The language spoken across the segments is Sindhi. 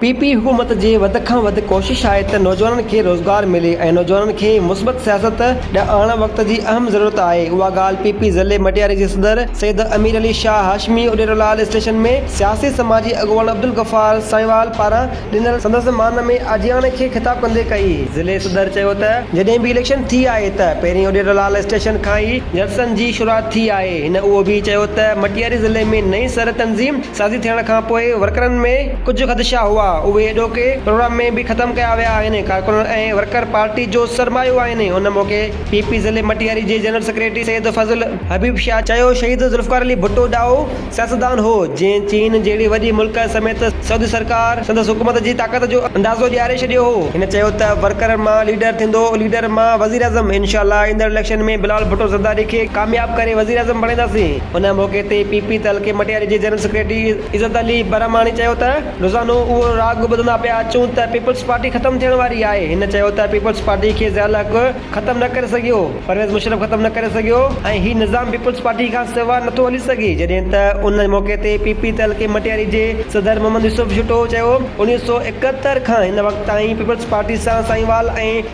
پي پي حڪومت جي وڌ کان وڌ ڪوشش آهي ته نوجوانن کي روزگار ملي ۽ نوجوانن کي مثبت سياست ڏانهن آڻڻ وقت جي اهم ضرورت آهي اها ڳالهه پي پي ضلعي مٽياري جي صدر سيد امير علي شاهه هاشمي اڏيرولال اسٽيشن ۾ سياسي سماجي اڳواڻ عبدالغفار سائينوال پاران ڏنل سندس مان ۾ آجياڻي کي خطاب ڪندي ڪئي. ضلعي صدر چيو ته جڏهن به اليڪشن ٿي آهي ته پهرين اڏيرولال اسٽيشن کان ئي جلسن جي شروعات ٿي آهي هن اهو به چيو ته مٽياري ضلعي ۾ نئين سر تنظيم سازي ٿيڻ کان پوء ورڪرن ۾ ڪجهه خدشا هئا، اهي ايڏوڪي پروگرام ۾ به ختم ڪيا ويا آهن، ڪارڪنن ۽ ورڪر پارٽي جو سرمايو آهن، ان موقعي پي پي ضلعي مٽياري جي جنرل سيڪريٽري سيد فضل حبيب شاهه چيو شهيد ذوالفقار علي ڀٽو ڏاهو سياستدان هو، جنهن چين جهڙي وڏي ملڪ سميت سعودي سرڪار سندس حڪومت جي طاقت جو اندازو ڏياري ڇڏيو هو، هن چيو ته ورڪرن مان ليڊر ٿيندو ليڊر مان وزيراعظم، انشاءالله ايندڙ اليڪشن ۾ بلال ڀٽو زرداري کي ڪامياب ڪري وزيراعظم بڻائينداسين. ان موقعي تي پي پي تعلقي مٽياري جي جنرل سيڪريٽري عزت علي برهماڻي چيو ته روزانو اهو راڳ ٻڌندا پيا اچون ته پيپلز پارٽي ختم ٿيڻ واري آهي هن چيو ته پيپلز پارٽي کي ضياء الحق ختم نه ڪري سگهيو پرويز مشرف ختم نه ڪري سگهيو ۽ هي نظام پيپلز پارٽي کان سوا نه ٿو هلي سگهي جڏهن ته ان موقعي تي پي پي تعلقي مٽياري جي صدر محمد يوسف جوٽو چيو انويهه سؤ ايڪهتر کان هن وقت تائين پيپلز پارٽي سان سائينوال ۽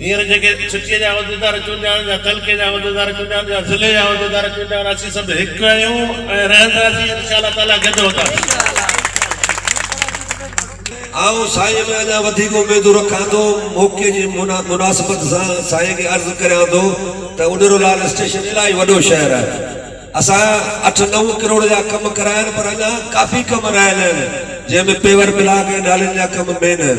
هينئر جيڪي سٽيء جا عهديدار چونڊيا وڃن يا تعلقي جا عهديدار چونڊيا وڃن يا ضلعي جا عهديدار چونڊيا وڃن اسين سڀ هڪ آهيون ۽ رهنداسين انشاء الله تعاليٰ گڏ هونداسين. آئون سائين ۾ اڃا وڌيڪ اميدون رکان ٿو. موقعي جي مناسبت سان سائين کي عرض ڪريان ٿو ته اڏرو لال اسٽيشن الاهي وڏو شهر آهي. اسان اٺ نو ڪروڙ جا ڪم ڪرايا آهن پر اڃا ڪافي ڪم رهيل آهن جنهن ۾ پيور بلاڪ ۽ نالين جا ڪم مين آهن.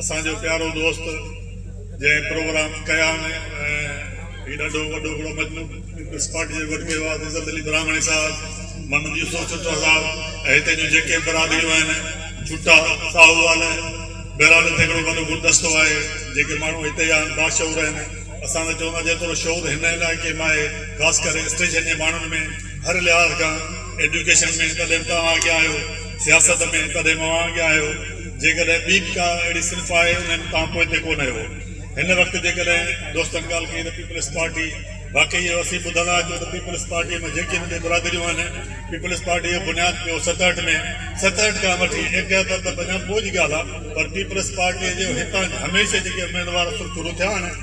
اسان جو پيارو دوست جنهن پروگرام ڪيا ۽ هي ڏاڍو وڏو هڪڙو مجموعو پيپلز پارٽي جو گڏ ڪيو آهي عزت علي براهمڻي صاحب محمد يوسف ٺٽو صاحب ۽ هتي جون جيڪي برادريون آهن ٺٽا ساهووال بهرحال هتي هڪڙو وڏو گلدستو آهي جيڪي ماڻهو هتي جا آهن باشعور آهن اسان ته چوندا جيترو شعور هن علائقي ۾ آهي خاص ڪري اسٽيشن جي ماڻهن ۾ هر لحاظ کان ايڊيوڪيشن ۾ تڏهن به توهان اڳيان آهيو سياست ۾ تڏهن به اوهان اڳيان آهيو جيڪڏهن ٻي به ڪا اهڙي صنف آهي انهن تان پوئتي ڪونه اهو هن وقت جيڪڏهن دوستن ڳالهه ڪئي ته پيپلز پارٽي واقعي اهو اسين ٻڌندا اچون ته پيپلز پارٽي ۾ جيڪي به ٻي برادريون آهن پيپلز پارٽي جو بنياد پيو ستهٺ ۾ ستهٺ کان وٺي ايڪهتر ته پڃا پوء جي ڳالهه آهي پر پيپلز پارٽي جو هتان هميشه جيڪي اميدوار سرخرو ٿيا آهن